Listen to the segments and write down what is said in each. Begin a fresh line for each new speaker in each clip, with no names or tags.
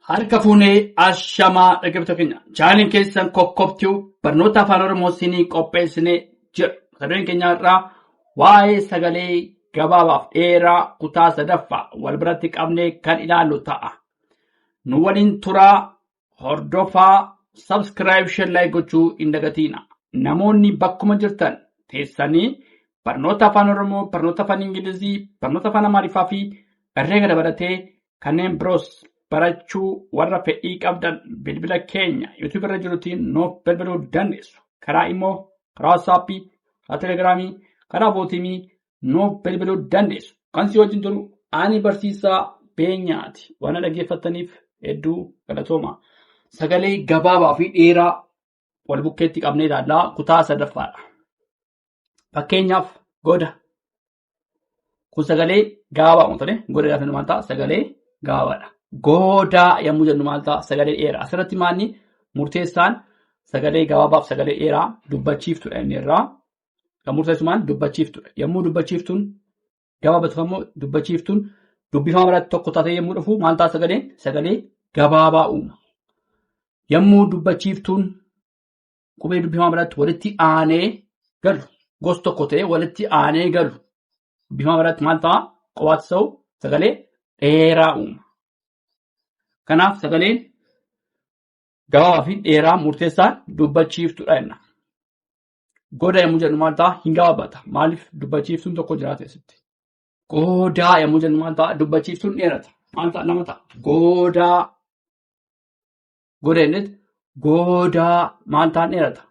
Harka fuunee ashamaa dhaggeeffattoota keenya. Chaanaliin keessan kokkobtuu barnoota afaan Oromoo siinii qopheessinee jira. Mata dureen keenya irraa waa'ee sagalee gabaabaaf dheeraa kutaa sadaffaa wal biratti qabnee kan ilaallu ta'a. Nu waliin turaa hordofaa sabskiraayib sheerlaay gochuu hin dagatiina. Namoonni bakkuma jirtan teessanii barnoota afaan Oromoo, barnoota afaan Ingilizii, barnoota afaan Amaariffaa fi herreega dabalatee kanneen biroos barachuu warra fedhii qabdan bilbila keenya YouTube irra jirutiin nuuf bilbiluu dandeessu. Karaa immoo karaa waatsaappii, karaa telegiraamii, karaa bootiimii nuuf bilbiluu dandeessu. Kan si wajjin jiru ani barsiisaa beenyaati. Waan dhaggeeffattaniif hedduu galatooma. Sagalee gabaabaa fi dheeraa wal bukkeetti qabnee ilaallaa kutaa sadaffaadha. Fakkeenyaaf goda Kun sagalee gaabaa waan ta'eef godaa jennu maal ta'a? Sagalee gaabaadha. Godaa yommuu jennu maal ta'a? Sagalee dheeraa. Asirratti maalni murteessaan sagalee gabaabaaf sagalee dheeraa dubbachiiftudha inni irraa. Kan murteessu maal dubbachiiftudha. Yommuu dubbachiiftuun gabaabatu immoo dubbachiiftuun dubbifama biratti tokko taatee yommuu dhufu maal ta'a sagaleen? Sagalee gabaabaa uuma. Yommuu dubbachiiftuun qubee dubbifamaa biratti walitti aanee galu gos tokko ta'ee walitti aanee galu dubbifamaa biratti maal ta'a qofaatti ta'u sagalee dheeraa uuma. Kanaaf sagaleen gabaabaa fi dheeraa murteessaan dubbachiiftuudha jenna. Goda yommuu jennu maal ta'a hin gabaabata maaliif dubbachiiftuun tokko jiraata asitti. Goodaa yommuu jennu maal ta'a dubbachiiftuun dheerata maal ta'a lama ta'a goodaa Goda innis goodaa maal ta'an dheerata.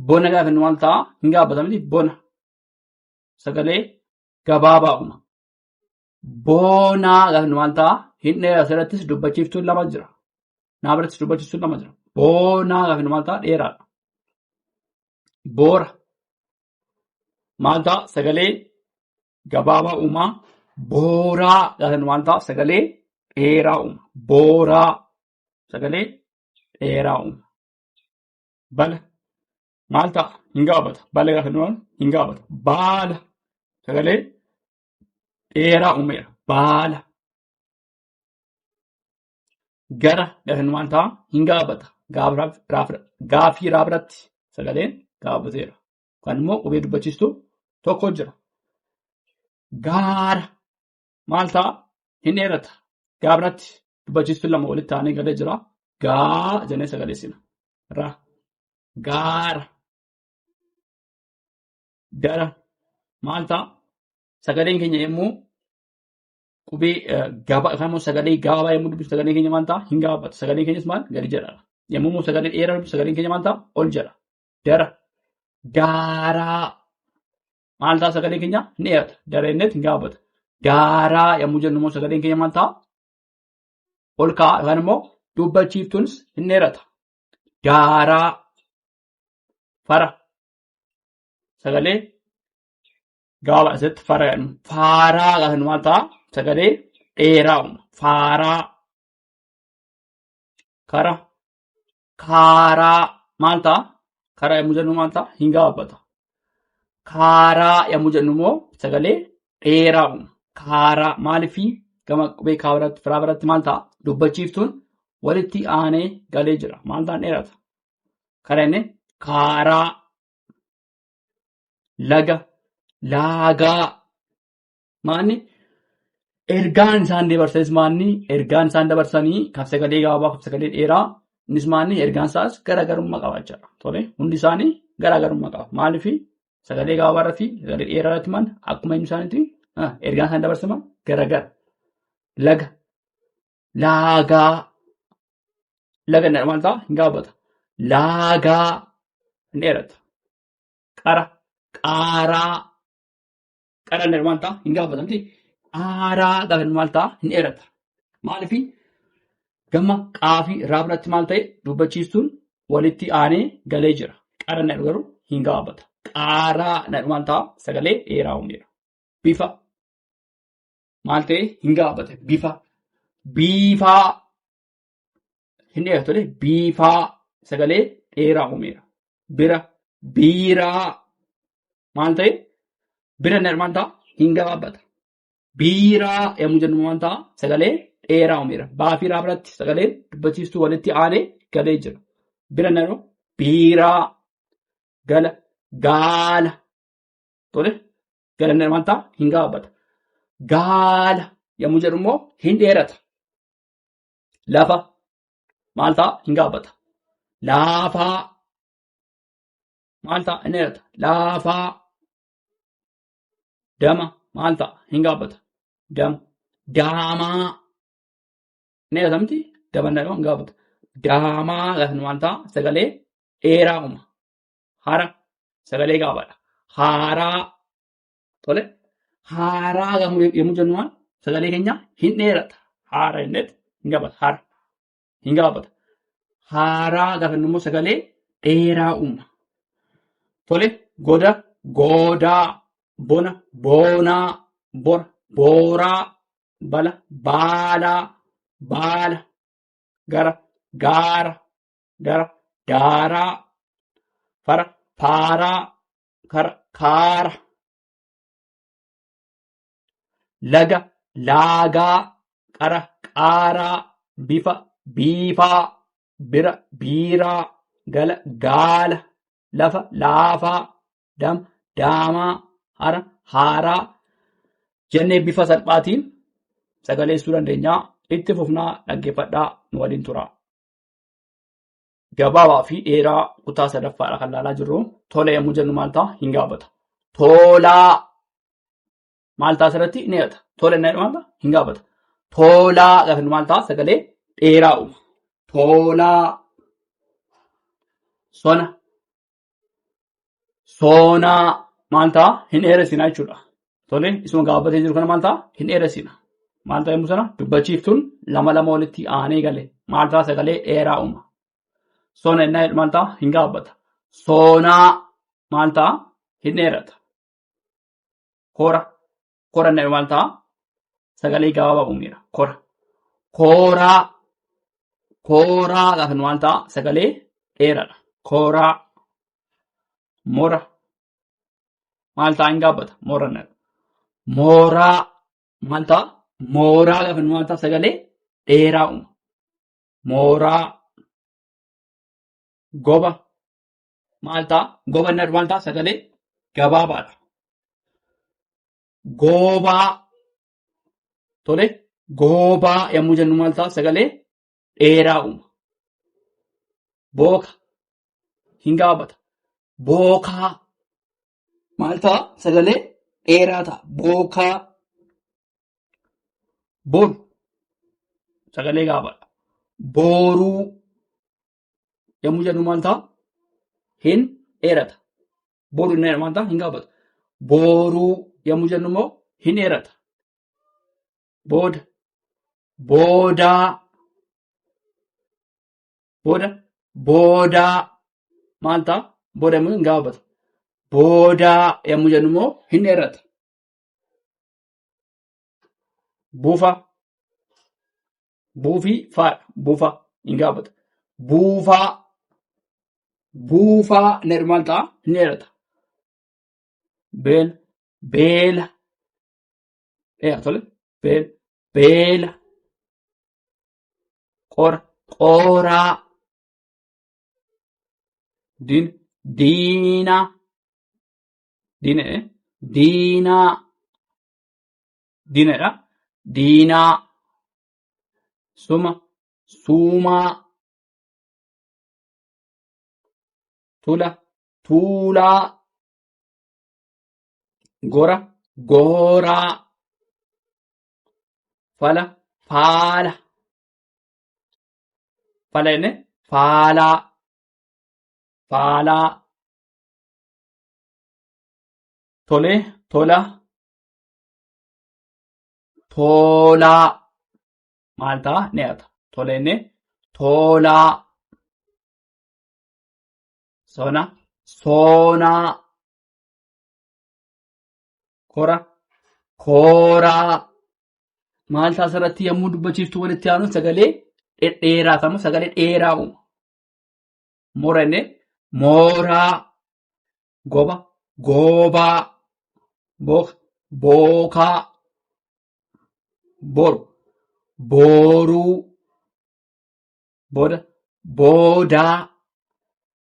Bona gaafa inni maal ta'a hin gaabbata miti bona. Sagalee gabaabaa uuma. Boonaa gaafa inni maal ta'a hin dheerata asirrattis dubbachiiftuun lama jira. Naa birattis dubbachiiftuun lama jira. Boonaa gaafa inni maal ta'a dheeraadha. Boora maal ta'a sagalee gabaabaa uumaa booraa gaasan maal ta'a sagalee dheeraa uuma booraa sagalee dheeraa uuma bala maal ta'a hin gaabata bala gaasan waan hin gaabata baala sagalee dheeraa uumeera baala gara gaasan maal ta'a hin gaabata gaafii raabratti sagaleen gaabateera yookaan immoo qubee dubbachiistu tokko jira. Gaara maal ta'a? Hin dheerata. Gaabratti dubbachiistu lama walitti ta'anii galee jira. Gaa jennee sagaleessina. Ra. Gaara. Gara. Maal ta'a? Sagaleen keenya yommuu qubee gaba yookaan immoo sagalee gabaabaa yommuu dubbisu sagaleen keenya maal ta'a? Hin gabaabatu. Sagaleen keenyas maal? Gadi jedha. Yommuu immoo sagalee dheeraa dubbisu sagaleen keenya maal ta'a? Ol jedha. dara daaraa maal ta'a sagalee keenya ni dheerata dara inni ittiin gaafata daaraa yommuu jennu immoo sagaleen keenya maal ta'a ol ka'a yookaan immoo dubbachiiftuunis hin dheerata daaraa fara sagalee gaaba asitti fara jedhamu faaraa gaafa maal ta'a sagalee dheeraa uuma faaraa kara kaaraa maal ta'a? Karaa yommuu jennu maal ta'a? Hin gabaabbata. Kaaraa yommuu jennu immoo sagalee dheeraa uuma. Kaaraa maaliifi gama qubee kaa biratti firaa biratti maal ta'a? Dubbachiiftuun walitti aanee galee jira. Maal ta'an dheerata? Karaa inni kaaraa laga laagaa Maanni ergaan isaan dabarsanis maanni ergaan isaan dabarsanii kabsagalee gabaabaa kabsagalee dheeraa innis maanni ergaan isaas garaagarummaa qaba jechuudha. Tole hundi isaanii garaagarummaa qaba. Maaliif sagalee gabaabaa irratti sagalee dheeraa irratti maanni akkuma inni isaaniitti ergaan isaan dabarsaman garaagara. Laga laagaa laga inni maal ta'a hin gaabata. Laagaa hin dheerata. Qara qaaraa Qalallee maal ta'a? Hin gaafatamti. Aaraa qalan maal ta'a? Hin dheerata. Maaliif gama qaafii irraa biratti maal ta'e dubbachiistuun walitti aanee galee jira. Qaran nadhu garuu hin gaafata. Qaaraa nadhu maal ta'a? Sagalee dheeraa uumeera. Bifa maal ta'e hin gaafate. Bifa biifaa Hin dheeratu lee biifaa sagalee dheeraa uumeera. Bira biiraa maal ta'e bira inni maal ta'a hin gabaabbata. Biiraa yommuu jennu maal ta'a sagalee dheeraa uumeera. Baafiiraa biratti sagaleen dubbachiistuu walitti aanee galee jira. Bira inni jedhu biiraa gala gaala tole gala inni maal ta'a hin gabaabbata. Gaala yommuu jedhu immoo hin dheerata. lafa maal ta'a hin gaabbata. Laafaa maal ta'a hin dheerata. Laafaa dama maal ta'a hin gaabbata. Dama daamaa hin dheerata miti dama hin dheerata hin gaabbata. Daamaa gaafa maal ta'a sagalee dheeraa uuma. Hara sagalee gaabaadha. Haaraa Tole haaraa yommuu yommuu jennu maal sagalee keenya hin dheerata. Haara innet hin gaafata. Haara hin gaafata. Haaraa gaafa jennu immoo sagalee dheeraa uumna. Tole goda goodaa bona boonaa bora booraa bala baalaa baala gara gaara dara daaraa fara faaraa kar- kaara laga laagaa qara qaaraa bifa biifaa bira biiraa gala gaala lafa laafaa dam daamaa hara haaraa jennee bifa salphaatiin sagaleessuu dandeenya itti fufnaa dhaggeeffadhaa nu waliin turaa. gabaabaa fi dheeraa kutaa sadaffaadha kan ilaalaa jirru. Tola yommuu jennu maal ta'a? Hin gaafata. Tolaa maal ta'a asirratti ni hidhata. Tola inni jedhu maal ta'a? Hin gaafata. Tolaa gaafa inni maal ta'a? Sagalee dheeraa uuma. Tolaa sona soonaa maal ta'a hin dheeressinaa jechuudha. Tole isuma gaabbatee jiru kana maal ta'a hin dheeressina. Maal ta'a yommuu sana dubbachiiftuun lama lama walitti aanee gale maal ta'a sagalee dheeraa uuma. Soona innaa jedhu maal ta'a hin gaabbata. Soonaa maal ta'a hin dheerata. Hora Koran dha maal ta'a? Sagalee gabaabaa uumeera. Kora. Kooraa. Kooraa gaafa maal ta'a? Sagalee dheeraadha. Kooraa. Mora. Maal ta'a hin gaabbata? Moran dha. Mooraa. Maal ta'a? Mooraa gaafa maal ta'a? Sagalee dheeraa uuma. Mooraa. Goba. maal ta'a? Gobannar maal ta'a? Sagalee gabaabaadha. Goobaa tole goobaa yommuu jennu maal ta'a? Sagalee dheeraa uuma. Booka hin gaabata. Bookaa maal ta'a? Sagalee dheeraa ta'a. Bookaa boru sagalee gaabaadha. Booruu Yommuu jennu maal ta'a? Hin dheerata. Boru inni maal ta'a? Hin gaabatu. Boru yommuu jennu immoo hin dheerata. Booda. Boodaa. Booda. Boodaa. Maal ta'a? Booda immoo hin gaabatu. Boodaa yommuu jennu immoo hin dheerata. Bufa. Buufii faadha. Buufaa. Hin gaafata. Buufaa. Buufaa jedhu maal ta'a? Ni dheerata. Beela. Beela. Dheera tole. Beela. Beela. Qora. Qoraa. Diina. Diinaa. Diina. eh? Diinaa. dinadha. Diinaa, suma, suumaa, tula, tuulaa, gora, gooraa, fala, faala. Fala jenne faalaa, faalaa. Tolee, tola, toolaa maal ta'a ni hata tola inni toolaa sona soonaa kora kooraa maal ta'a asirratti yommuu dubbachiiftu walitti aanu sagalee dhedheeraa ta'amu sagalee dheeraa uuma mora inni mooraa Goba. Goobaa. Booka. Bookaa. Boru. Booruu. Booda. Boodaa.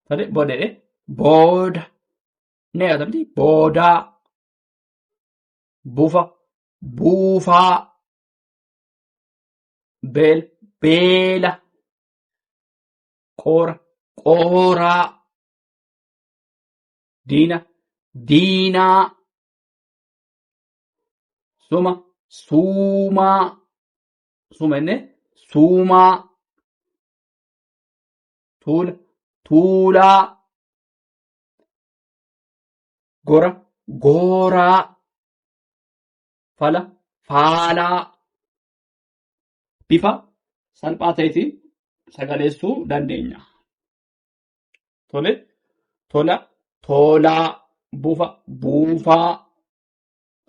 Tole booda jedhee. Booda. Ni yaadata miti. Boodaa. Bufa. Buufaa. Beela. Beela. Qoora. Qooraa. diina diinaa suma suumaa suma inni suumaa tuula tuulaa gora gooraa fala faalaa bifa salphaa ta'eetiin sagaleessuu dandeenya. Tole, tola, toolaa, bufa, buufaa,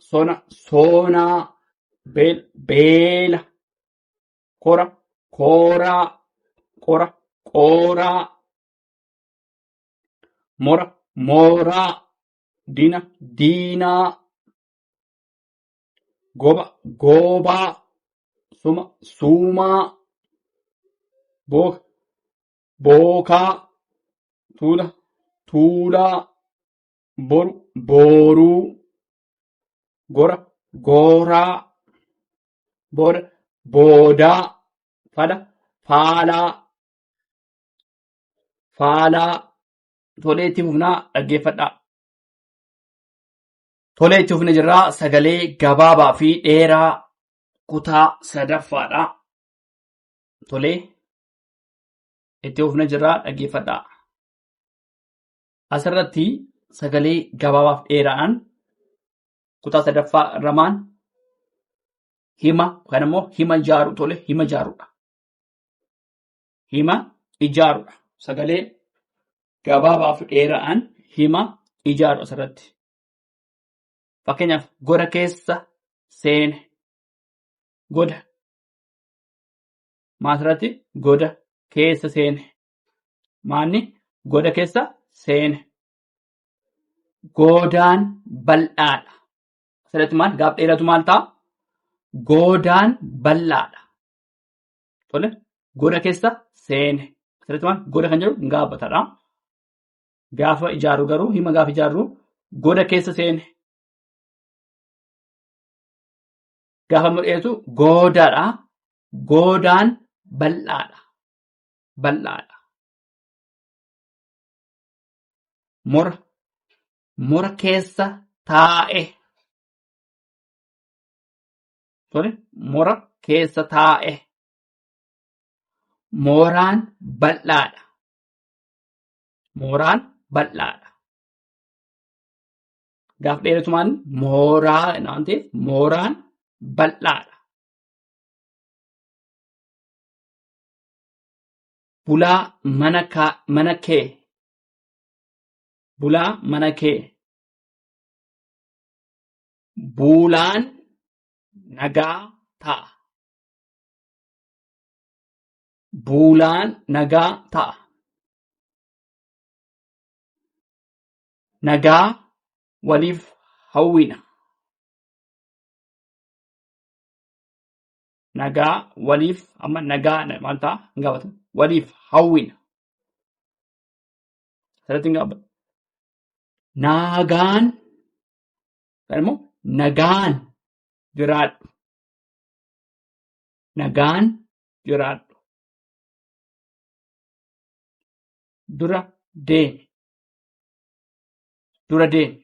sona, soonaa, beel, beela, kora, kooraa, qora, qooraa, mora, mooraa, dina, diinaa, goba, goobaa, suma, suumaa, booka, bookaa tuula tuulaa boru booruu gora gooraa booda boodaa fala faalaa faalaa tolee itti fufnaa dhaggeeffadhaa. Tolee itti fufne jirraa sagalee gabaabaa fi dheeraa kutaa sadaffaadha. Tolee Itti fufna jirra dhaggeeffadhaa. Asirratti sagalee gabaabaaf dheeraan kutaa sadaffaa ramaan hima yookaan immoo hima ijaaru tole hima ijaarudha. Hima ijaarudha. Sagalee gabaabaaf dheeraan hima ijaaru asirratti. Fakkeenyaaf goda keessa seene goda maasirratti goda keessa seene. Maanni goda keessa seene. Goodaan bal'aadha. Asirratti maal gaaf dheeratu maal ta'a? Goodaan bal'aadha. Tole goda keessa seene. Asirratti maal goda kan jedhu gaafataadha. Gaafa ijaarru garuu hima gaafa ijaarru goda keessa seene. gaafa mul'atu goodaadha. Goodaan bal'aadha. Bal'aadha. Mora. Mora keessa taa'e. Tole mora keessa taa'e. Mooraan bal'aadha. Mooraan bal'aadha. gaaf dheeratumaan mooraa waan ta'eef mooraan bal'aadha. Bulaa mana kaa mana kee bulaa mana kee buulaan nagaa ta'a. Buulaan nagaa ta'a. nagaa waliif hawwina. Nagaa waliif amma nagaa maal ta'a hin gaafatamu. Waliif hawwina. Asirratti hin gaafatamu. Nagaan yookaan immoo nagaan jiraadhu. Nagaan jiraadhu. Dura deemi. Dura deemi.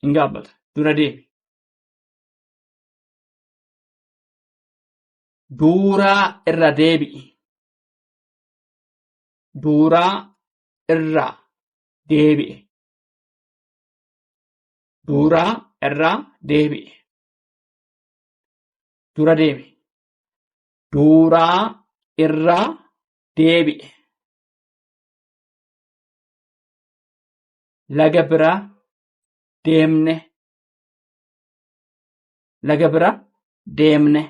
Hin gaabbata. Dura deemi. Duuraa irra deebi'i. Duuraa irra deebi'e. Duuraa irra deebi'e. Dura deemi. Duuraa irra deebi'e. laga biraa deemne laga biraa deemne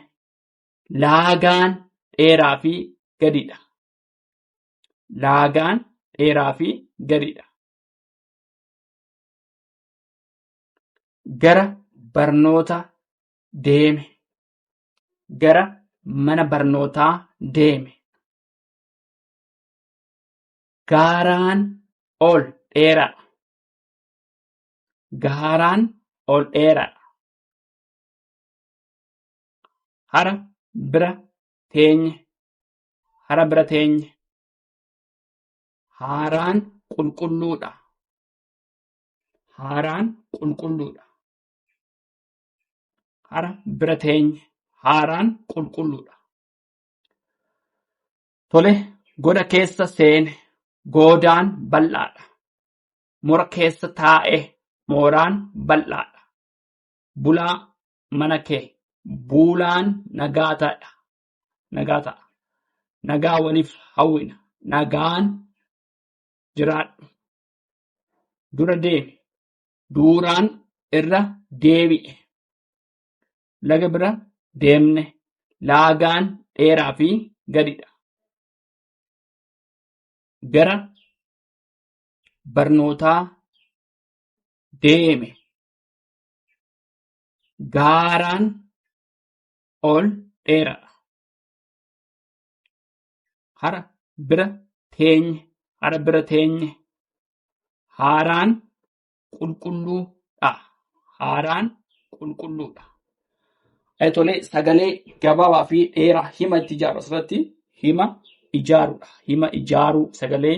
laagaan dheeraa fi gadidha laagaan dheeraa fi gadidha gara barnoota deeme gara mana barnootaa deeme Gaaraan ol dheeraadha. Gaaraan ol dheeraadha. Hara bira teenye. Hara bira teenye. Haaraan qulqulluudha. Haaraan qulqulluudha. Hara bira teenye. Haaraan qulqulluudha. Tole, goda keessa seene. Goodaan bal'aadha. Mora keessa taa'e. Mooraan bal'aadha. Bulaa mana kee. Buulaan nagaa ta'a. Nagaa ta'a. Nagaa waliif hawwina. Nagaan jiraadhu. Dura deemi. Duuraan irra deebi'e. laga bira deemne. Laagaan dheeraa fi gadidha. Gara barnootaa deeme. Gaaraan ol dheeradha. Hara bira teenye. Hara bira teenye. Haaraan qulqulluu dha. Haaraan qulqulluu dha. Eh, Tolee, sagalee gabaabaa fi dheeraa hima itti ijaaru asirratti hima ijaaruudha. Hima ijaaruu sagalee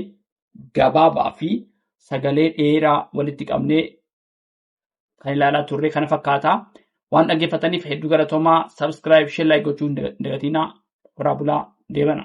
gabaabaa fi sagalee dheeraa walitti qabnee kan ilaalaa turre kana fakkaata. Waan dhaggeeffataniif hedduu galatoomaa subscribe, share, like gochuu hin dagatinaa. Horaa bulaa deebana.